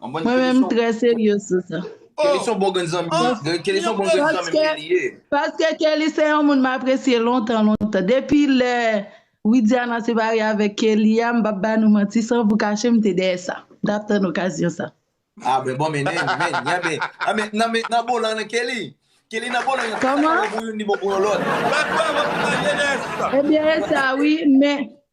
Mwen menm m trè serye sou sa. Kelly son bon grenn zanmi, Kelly son bon grenn zanmi m li ye. Paske Kelly se yon moun m apresye lontan lontan. Depi lè Widiana separe avèk Kelly a, m pap ba nou manti san pou kache m te dèyè sa. M tap tann okazyon sa. Ah ben bon men men men men ah men nan men nan bolan nan Kelly Kelly nan bolan Kòman? Ni bon pou yon lòt. Ebyen e sa wi men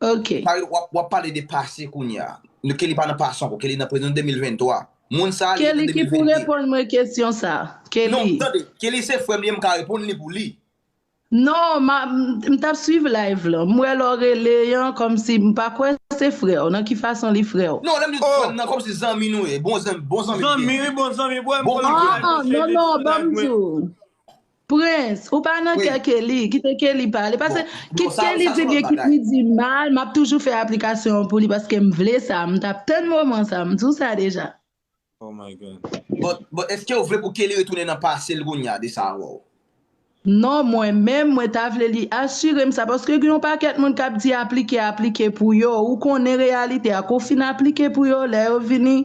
ok. Pawel wap pale de pase kounya. Kelly pa nan pase anko kelly nan prezan 2023 moun sa li nan 2022. Kelly ki pou reponn mwen kesyon sa kelly. Non tande kelly se frem li mka reponn li pou li. Non m tap swiv live lan m wè lè w rele an kòmsi m pa kwè se frè w nan ki fason li frè w. Non lèm di frèm nan kòmsi zanmi nou ye bon zanmi bon zanmi li genyen. Zanmi wi bon zanmi bwè m konn li pou live mwen swiv li sou live mwen. Prince ou pa nan kè Kelly kite Kelly pale pase kit Kelly di byen kit li di mal map toujou fè aplikasyon an pou li paske m vle sa m tap tann moman sa m diw sa deja. Oh my God. Bon eskew vle pou Kelly retounen nan pasel kounya de sa wow. Non mwen menm mwen ta vle li asirem sa paske gen yon pakèt moun kap di aplike aplike pou yo ou konnen reyalite a kou fin aplike pou yo lè yo vini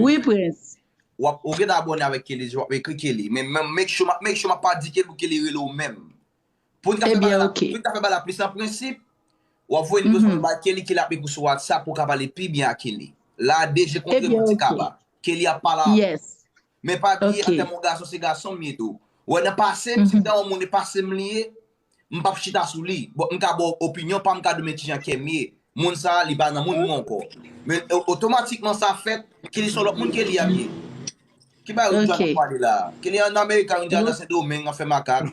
Wi prens. Wap ou gentan abòne avèk Kelly deja wap ekri Kelly men make sure make sure map pa di Kelly pou Kelly rele w menm poun ka fè bagay la poun ka fè bagay la plis an prensip wap voye nimewo sa bay Kelly Kelly ap ekriw sou WhatsApp pou w ka pale pi byen ak Kelly la de je kontre mwen ti kaba Kelly ap pale avè w men pa bliye atè m yon gason se gason m ye tou wè nan pase m si m ta yon moun e pase m li ye m pap chita sou li bon m ka baw opinyon pam ka diw men kijan kèm ye moun sa li pa nan moun mwen ankò men otomatikman sa fèt ke li son lòt moun ke li ap ye ki bagay ou djòl ap pale la ke li an amerika ou djòl nan sendomeng ap fè makak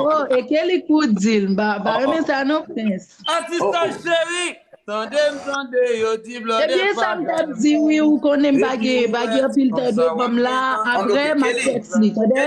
oh e ke li kou dil m pa renmen sa non prens asistan cheri tande m tande yo di blòdè pa ebyen sa m tap di wi ou konnen m pa gen anpil tan devanm la aprè map fè ti tande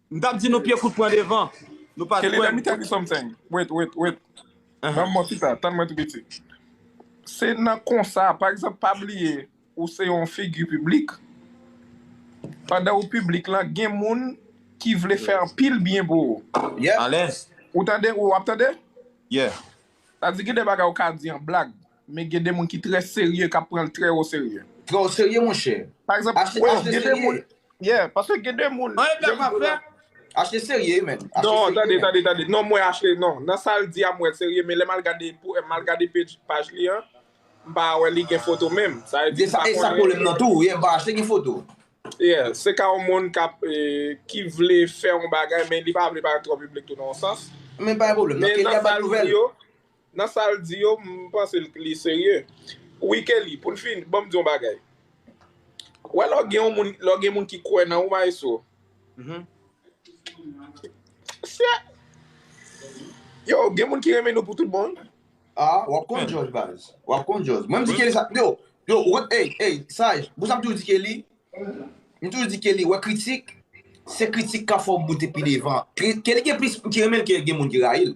M tap di nou pye kout pran devan. Nou pat Kelly, let kwèm. me tell you something. Wait, wait, wait. Banm mò chita, tann mwen tou piti. Se nan konsa, pa egzanp pa bliye ou se yon figi piblik, pandan ou piblik lan gen moun ki vle fè anpil byen pou ou. Alèz. Ou tande, ou ap tande? Yeah. Sa di gen de bagay ou ka di an blag, Men gen de moun ki trè serye kap pranl trè o serye. Trè o serye monchè. Pa egzanp, achte serye. Yeah, paske gen de moun. An epi aprè frè. Achte serye men. Non, tande, tande, tande. Non mwen achte, non. Nan sal di a m wèl serye men lè mal gade, mal gade page, paj li an, m pa wè li gen foto menm. Sa vle di m pa konnen. Esa pwoblèm nan tou, yeah, m pa achte gen foto. Yeah, se ka yon moun kap, ki vle fè yon bagay men li pa vle parèt twò piblik tou nan yon sans. Men pa gen pwoblèm, nan kenya bat nouvèl. Nan sal di yo m panse li serye wi Kelly poun fini banm di yon bagay ou wè lè w gen yon moun lè w gen moun ki kwè nan ou maestro se yo gen moun ki renmen nou pou tout bon wi. Ah wap konn jòj baz wap konn jòj mwen m di Kelly sa yo yo ou wè ey ey saj pou sa m toujou di Kelly m toujou di Kelly wè kritik se kritik kap fè w boute pi devan Kelly gen plis moun ki renmen l ke gen moun ki rayi l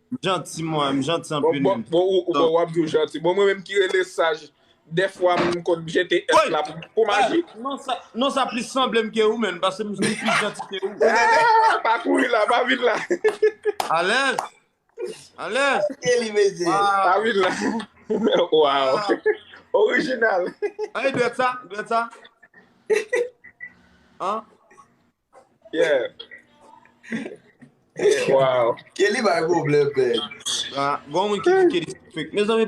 M janti mwen, m janti anpil menm. Bon wap di ou janti. Bon mwen menm ki rele saj dèfwa m konn jete S la pou maji. Non sa plis sanble m ke ou menm paske m vin plis janti ke ou. Pa kouri la, pa vin la. Alèz! Alèz! Salye li mesye. Pa vin la. Waw! Orijinal. An e dwèt sa? Dwèt sa? An? Yeah. Wow. Kelly bay problem, man. Gon moun ki di Kelly fake. Mes amis,